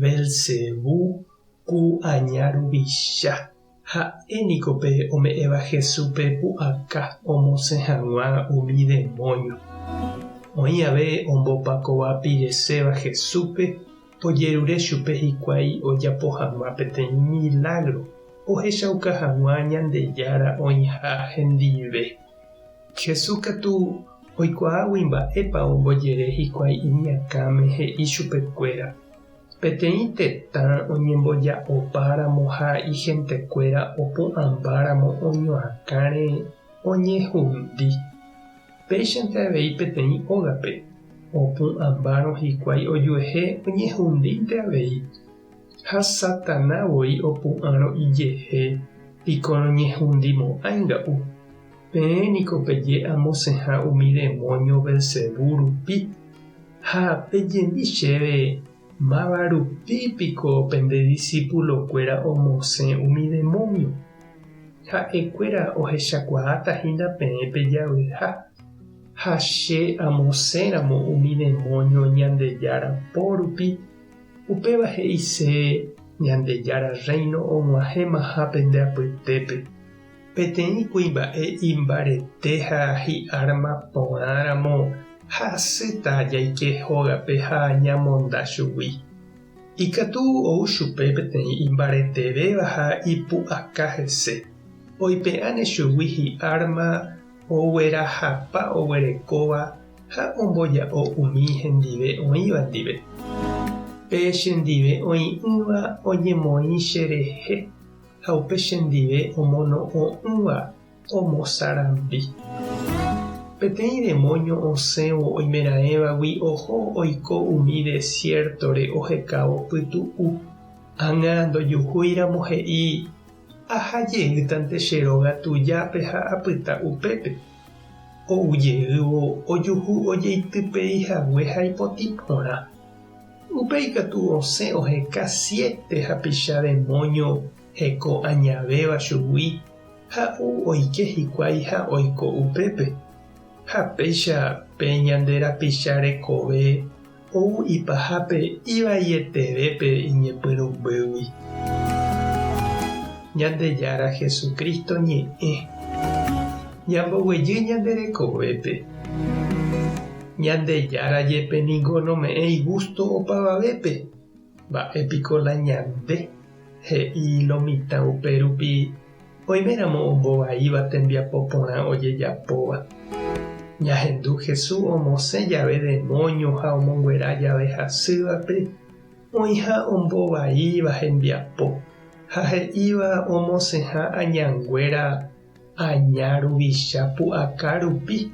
Beelzebú, ku aña ruvicha. Ha'e niko pe ome'ẽva Jesúspe pu'aka omosẽ hag̃ua umi demónio. Oĩ ave ombopakova pireséva Jesúspe, ojerure chupe hikuái ojapo hag̃ua peteĩ milágro ohechauka hag̃ua Ñandejára oĩha hendive. Jesús katu oikuaágui mba'épa ombojere hikuái iñakãme he'i chupekuéra. Peteĩ tetã oñemboja'opáramo ha ihentekuéra opu'ãmbáramo oñoakãre oñehundi. Péichante avei peteĩ ógape, opu'ãmbárõ hikuái ojuehe oñehundínte avei. Ha Satana voi opu'ãrõ ijehe, piko roñehundi mo'ãinga u. Peẽ niko peje amosẽha umi demónio Belcebú rupi. Ha pejemi chéve, Máva rupi piko pende disípulokuéra omosẽ umi demónio? Ha'ekuéra ohechakuaáta hína peẽ pe javyha. Ha che amosẽramo umi demónio Ñandejára po rupi, Upéva he'ise Ñandejára Rréino og̃uahẽmaha pende apytépe, peteĩ kuimba'e imbarete ha hi'árma porãramo ha asýta jaike hógape ha ñamonda chugui. Ikatu ou chupe peteĩ imbaretevéva ha ipu'aka hese, oipe'áne chugui hi'árma oguerahapa oguerekóva ha omboja'o umi hendive oĩva ndive. Pe chendive oĩ'ỹva oñemoĩ cherehe, ha upe chendive omono'õ'ỹva omosarambi. Peteĩ demóño osẽvo oimeraẽvagui oho oiko umi desiértore ohekávo pytu'u. Ág̃a ndojuhúiramo he'i Aha jeýtante che róga tujápe ha apyta upépe, ou jeývo ojuhu ojeitypei hague ha ipotĩ porã. Upe ikatu osẽ oheka siete hapicha demóño heko añavéva chugui ha ou oike hikuái ha oiko upépe. Ha péicha pe ñande rapicha rekove ou ipahápe ivaieteve pe iñepyrũmbýgui. Ñandejára Jesucristo ñe'ẽ, ñamboguejy ñande rekovépe. Ñandejára jepe ningo nome'ẽ igusto opavavépe, mba'e piko la ñande, he'i lo mitã upérupi Oiméramo ombo vaíva tembiapo porã ojejapóva. Ñahendu Hesu omosẽ jave demóño ha omonguera jave hasývape oĩha ombo vaíva hembiapo ha he'íva omosẽha añanguéra aña ruvicha pu'aka rupi,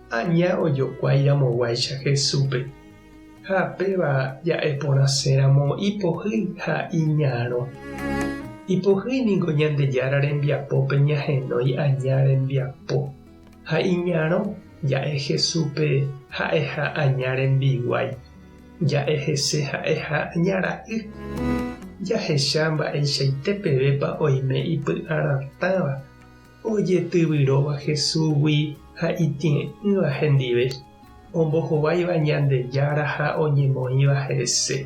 aña ojokuái ramoguáicha Hesúpe. Ha péva ja'eporãséramo ipohýi ha iñarõ. Ipohýi ningo Ñandejára rembiapópe ñahenói aña rembiapo, ha iñarõ ja'e Jesúspe ha'eha aña rembiguái, ja'e hese ha'eha aña ra'y. Jahecha mba'eichaite pevépa oime ipy'arãtãva. Ojetyvyrõva Jesúsgui ha itĩe'ỹva hendive, ombohováiva Ñandejára ha oñemoĩva hese.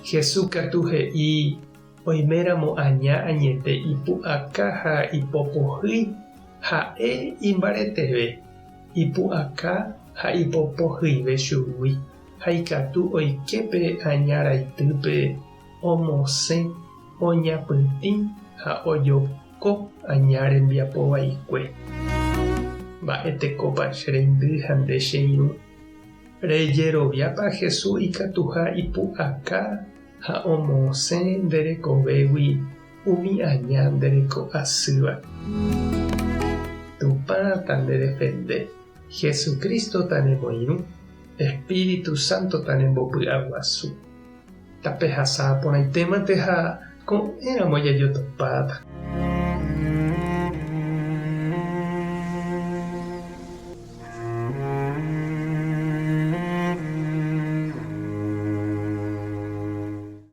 Jesús katu he'i oiméramo aña añete ipu'aka ha ipopohýi, ha'e imbareteve, ipu'aka ha ipopohyive chugui ha ikatu oike pe aña raitýpe omosẽ, oñapytĩ ha ojopa. ko aña rembiapo vaikue. Mba'e tekópa che reindy ha nde che irũ? Rejeroviápa Jesús ikatuha ipu'aka ha omosẽ nde rekovégui umi aña nde reko asýva? Tupã tandedefende, Jesucristo tanemoirũ, Espíritu Santo tanembopy'aguasu. Tapehasa porãite mante ha ko'ẽramo jajotopáta.